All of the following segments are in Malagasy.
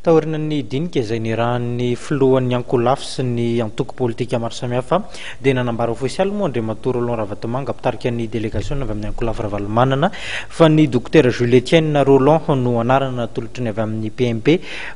Taorian'ny dinika izay niarahan'ny filohan'ny ankolafy sy ny antoko politika maro samihafa dia nanambara ofisialy moa Andriamatoa Roland Ravatomanga mpitarika ny delegasiona avy amin'ny ankolafy Ravalomanana fa ny Dokotera Jules Etienne Rolland no anarana natolotry ny avy amin'ny PMP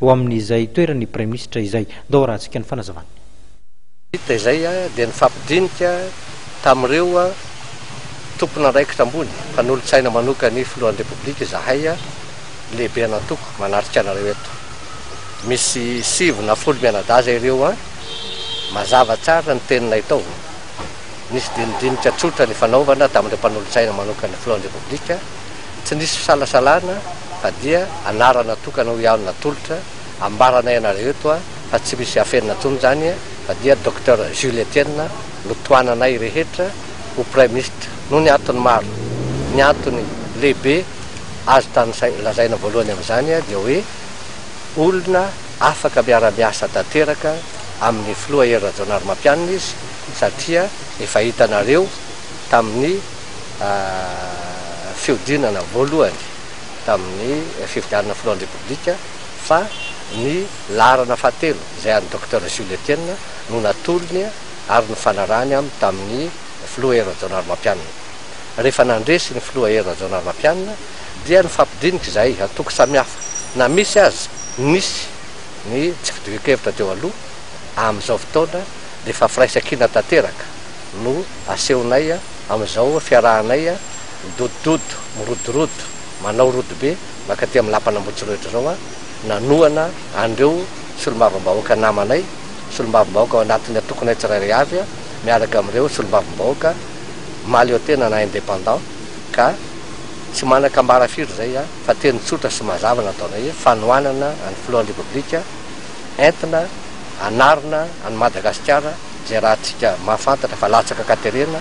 ho amin'izay toeran'ny Praiminisitra izay. Ndao arahantsika ny fanazavan'ny. Vita izay dia nifampidinika tamin'ireo tompon'andraikitra ambony mpanolotsaina manokan'ny filohan'ny Repoblika izahay. Lehibe an'Antoko manatrika anareo eto. Misy sivy na folo mianadaza ery eo an! Mazava tsara ny teninay tao. Nisy dinidinika tsotra nifanaovana tamin'ireo mpanolotsaina manokan'ny Filohan'ny Repoblika, tsy nisy fisalasalana fa dia anarana tokana hoy aho no natolotra, ambaranay anareo eto an! fa tsy misy afenina intsony izany fa dia Docteur Jules Etienne no tohananay rehetra ho Praiminisitra noho ny antony maro, ny antony lehibe. azo tanisaina, lazaina voalohany amin'izany dia hoe olona afaka miara-miasa tanteraka amin'ny filoha Hery Rajaonarimampianina izy satria efa hitanareo tamin'ny fihodinana voalohany tamin'ny fifidianana filohan'ny Repoblika fa ny laharana fahatelo izay an'i Docteur Jules Etienne no natolony ary nifanarahany amin'ny tamin'ny filoha Hery Rajaonarimampianina. rehefa nandresy ny filoha Hery Rajaonarimampianina dia nifampidinika izay antoko samihafa na misy aza nisy ny tsy fitovian-kevitra teo aloha, amin'izao fotoana dia efa firaisan-kina tanteraka no asehonay amin'izao fiarahanay midodododo, mirodorodo, manao rodobe mankaty amin'ny lapan'Ambohitsorohitra izao nanohana an'ireo solombavambahoaka namanay, solombavambahoaka ao anatin'ny antokonay tsirairay avy miaraka amin'ireo solombavambahoaka. mahaleotena na indépendant ka tsy manan-kambara firy izay fa teny tsotra sy mazava no ataonay hoe fanohanana an'ny filohan'ny Repoblika entina hanarina an'i Madagasikara izay raha antsika mahafantatra fa latsaka ka terena